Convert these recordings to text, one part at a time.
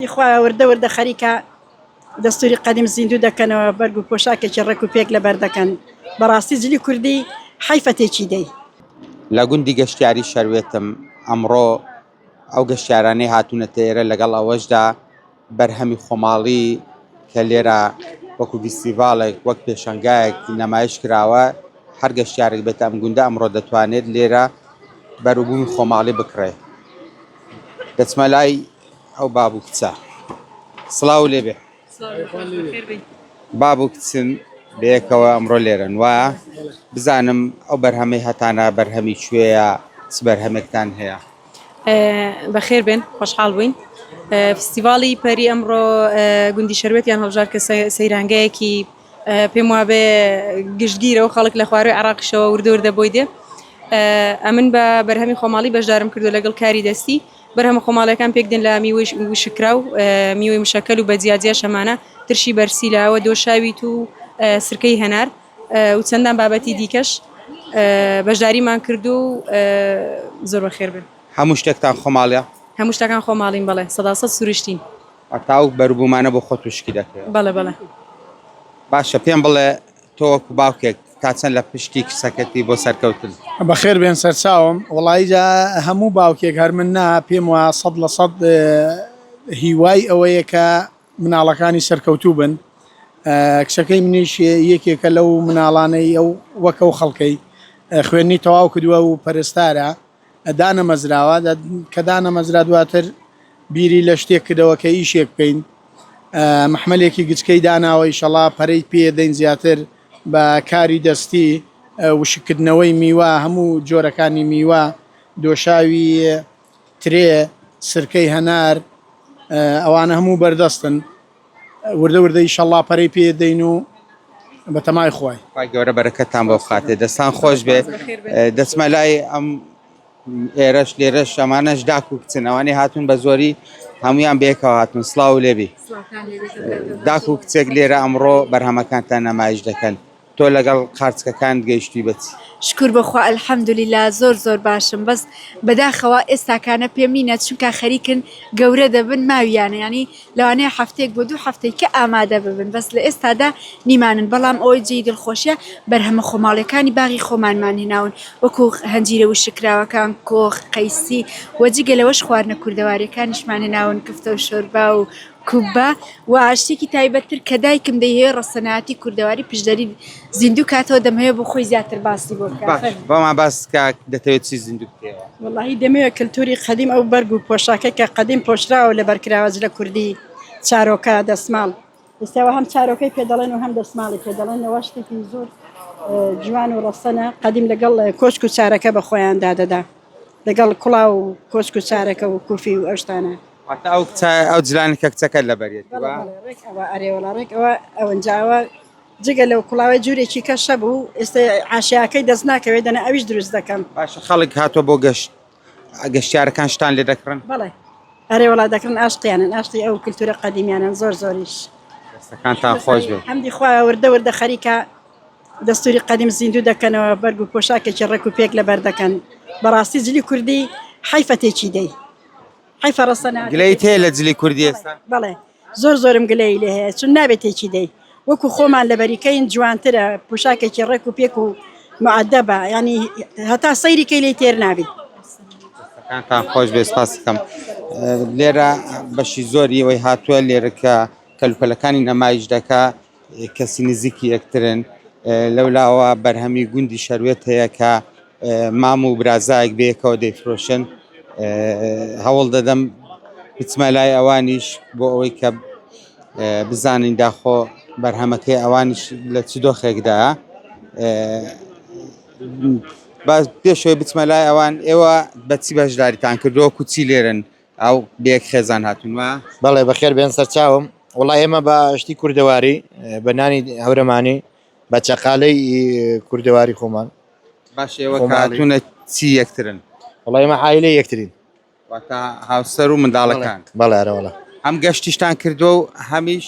ی خوایە وردە وردە خەریکە دەستوری قەدیم زیندوو دەکەنەوە بەرگ و پۆشاکێکی ڕێک و پێک لەبەر دەکەن بەڕاستی جلی کوردی حەیفە تێکی دەی. لە گوندی گەشتیاری شەروێتم، ئەمڕۆ ئەو گەشتیارانەی هاتوونەتە ئێرە لەگەڵ ئەوەشدا بەرهەمی خۆماڵی کە لێرە وەکو ڤیستیڤاڵێک وەک پێشەنگایەک نەمایش کراوە هەر گەشتیارێک بێتە ئەم گوندە ئەمڕۆ دەتوانێت لێرە بەروبوومی خۆماڵی بکڕێت دەچمە لای ئەو باب و کچە سڵاو لێ بێ باب و کچن بەیەکەوە ئەمڕۆ لێرەن وایە بزانم ئەو بەرهەمەی هەتانە بەرهەمی کوێیە چ بەرهەمێکتان هەیە بەخێر بێن خۆشحاڵ بووین فستیڤاڵی پەری ئەمڕۆ گوندی شەروێتیان هەڵژار کە سەیرانگەیەکی پێم وابێ گشتگیرە و خەڵک لە خوارەوەی عراقیشەوە وردور دەبۆی دێ ئەمن بە بەرهەمی خۆماڵی بەشدارم کردو لەگەڵ کاری دەستی بەرهەمە خۆماڵیەکان پێک دێن لە میوەی وشککراو، میوەی مشەکەل و بە جیا جیاش ئەمانە، ترشی بەرسی لاوە، دۆشاوی توو و سرکەی هەنار و چەندان بابەتی دیکەش بەشداریمان کردووە و زۆر بەخێر بن. هەموو شتێکتان خۆماڵیە؟ هەموو شتەکان خۆماڵین بەڵێ سەدا سەد سروشتین. هەتا ئەو بەروبوومانە بۆ خۆت وشکی دەکەیەوە؟ بەڵێ بەڵێ. باشە پێم بڵێ تۆ وەکو باوکێک تا چەند لە پشتی کچەکەتی بۆ سەرکەوتن؟ بەخێر بێن سەرچاوم، وەڵایی جا هەموو باوکێک هەر من نا پێم وا سەد لە سەد هیوای ئەوەیە کە مناڵەکانی سەرکەوتوو بن کچەکەی منیش یەکێکە لەو مناڵانەی ئەو وەک ئەو خەڵکەی خوێندنی تەواو کردووە و پەرستارە دانەمەزراوە کە دانەمەزرا دواتر بیری لە شتێک کردەوە کە ئیشێک بکەین مححملێکی گچکەی داناوە ئیشەڵا پەرەی پێ دەین زیاتر بە کاری دەستی وشکردنەوەی میوە هەموو جۆرەکانی میوە دۆشاوی ترێ سرکەی هەنار ئەوانە هەموو بەردەستن وردە وردە ئیشەڵا پەرەی پێدەین و بەتەمای خوای خوای گەورە بەرەکەتان بۆ بخاتێ دەستان خۆش بێ دەچمە لای ئەم ئێرەش لێرەش ئەمانەش داک و کچن ئەوانێ هاتون بە زۆری هەمویان بێکەوە هاتون سلااو لێبی داک و کچێک لێرە ئەمڕۆ بەرهەمەکانتان نەمایش دەکەن تۆ لەگەڵ قارچکەکانت گەیشتوی بە چی؟ شکور بەخوا الحمدللە زۆر زۆر باشم بەس بەداخەوە ئێستاکانە پێم نینە چونکا خەریکن گەورە دەبن ماویانە یانی لەوانەیە هەفتەیەک بۆ دوو هەفتەی کە ئامادە ببن بەس لە ئێستادا نیمانن بەڵام ئەوەی جێی دڵخۆشیە بەرهەمە خۆماڵیەکانی باغی خۆمانمان هێناون وەکو هەنجیرە وشککراوەکان کۆخ قەیسی وە جگە لەوەش خواردنە کوردەواریەکانیشمان هێناون کفتەو شۆربا و کوبە و ئاشتێکی تایبەتتر کە دایکم دەیهەوێ ڕەسەنایەتی کوردەواری پشدەری زیندوو کاتەوە دەمهەوێ بۆ خۆی زیاتر باسی بۆ بکات باش بەما باس کە دەتەوێت چی زیندوو بکەیەوە وەڵاهی دەمەوێ کلتوری قەدیم ئەو بەرگ و پۆشاکە کە قەدیم پۆشراوە لە بەرکراوە جلە کوردی چارۆکە دەسماڵ ئێستاوە هەم چارۆکەی پێ دەڵێن و هەم دەسماڵی پێ دەڵێن نەوە شتێکی زۆر جوان و ڕەسەنە قەدیم لەگەڵ کۆچک و چارەکە بە خۆیان دادەدا لەگەڵ کوڵاو و کۆچک و چارەکە و کوفی و ئەشتانە واتا ئەو کچە ئەو جلانی کە کچەکەت لەبەریەتی بەڵێ وا بەڵێ ڕێک ئەوە ئەرێ وەڵا ڕێک ئەوە ئەوەنجا ئەوە جگە لەو کوڵاوەی جوورێکی کە شەب و ئێستا عاشیاکەی دەست ناکەوێت دەنا ئەویش دروست دەکەم باشە خەڵک هاتووە بۆ گەشت ئە، گەشتیارەکان شتان لێ دەکڕن بەڵێ ئەرێ وەڵا دەکڕن ئاشقیانن ئاشقی ئەو کلتورە قەدیمیانەن زۆر زۆریش دەستەکانتان خۆش بێ حەمدی خوایە وردە وردە خەریکە دەستوری قەدیم زیندوو دەکەنەوە بەرگ و پۆشاکێکی ڕێک و پێک لەبەر دەکەن بەڕاستی جلی کوردی حەیفە تێکی دێی حیفە ڕەسە ناکەی. گلەیت هەیە لە جلی کوردی ئێستا؟ بەڵێ زۆر زۆرم گلەیی لێ هەیە چون نابێت تێکی دەی وەکو خۆمان لە بەریکەین جوانترە پوشاکێکی ڕێک و پێک و معدەبە ینی هەتا سەیری کەی لی تێر نابی کانتان خۆش بێ سپاسەکەم لێرە بەشی زۆری ئەوەی هاتووە لێرەکە کەلوپەلەکانی نەمایش دەکا کەسی نزیکی یەکترن. لەولاوە بەرهەمی گوندی شەروێت هەیە کە مام و برازایەک بەیەکەوە دەیفرۆشن. هەوڵ دەدەم بچمە لای ئەوانیش بۆ ئەوەی کە بزانین داخۆ بەرهەمەکەی ئەوانیش لە چ دۆخێکدایە. باز پێشەوەی بچمە لای ئەوان ئێوە بە چی بەشداریتان کردووە و چی لێرەن؟ ئاو بەیەک خێزان هاتون وا. بەڵێ بەخێر بێن سەرچاوم. وەڵا ئێمە بە شتی کوردەواری بە نانی هەورەمانی بە چەقالەی کوردەواری خۆمان باش ئێوە کاتونە چی یەکترن وەڵا ئێمە عیلە یەکترین واتا هاوسەر و منداڵەکان بەڵێ ئەرەوەڵا هەم گەشتیشتان کردووە و هەمیش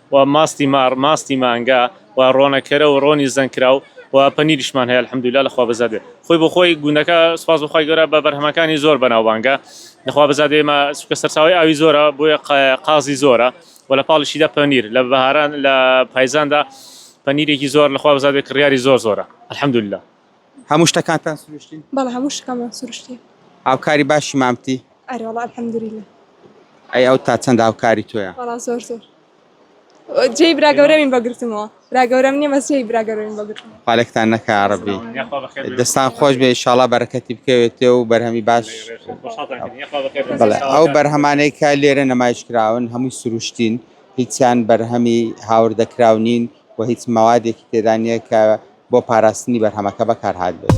و ماستی مار ماستی مانگا و ڕۆنە کەرە و ڕۆنی زەنگ کراو و پەنیریشمان هەیە الحمدللە لەخوا بەزاد بێ خۆی بۆ خۆی گوندەکە سپاس بەخوای گەورە بە بەرهەمەکانی زۆر بەناوبانگە لەخوا بەزاد ئێمە سوکە سەرچاوی ئاوی زۆرە بۆیە قازی زۆرە و لە پاڵشیدا پەنیر لە بەهاران لە پایزاندا پەنیرێکی زۆر لەخوا بەزاد بێ کڕیاری زۆر زۆرە الحمدللە. هەموو شتەکانتان سروشتین؟ بەڵێ هەموو شتەکانمان سروشتین. هاوکاری باشی مامتی؟ ئەرێ وەڵا الحمدللە. ئەی ئەو تا چەند هاوکاری تۆیە؟ وەڵا زۆر زۆر. جێی برا گەورەمین بە گرتمەوە. برا گەورەم نییە بەس جێی برا گەورەمین بە گرتمەوە. پالێکتان نەکا یا ڕەبی. دەستان خۆش بێ ئیشاڵا بەرەکەتی بکەوێتێ و بەرهەمی باش بەڵێ ئەو بەرهەمانەی کە لێرە نمایش کراون هەمووی سروشتین هیچیان بەرهەمی هاوردەکراو نین و هیچ مەوادێکی تێدا نییە کە بۆ پاراستنی بەرهەمەکە بەکارهاتبێت.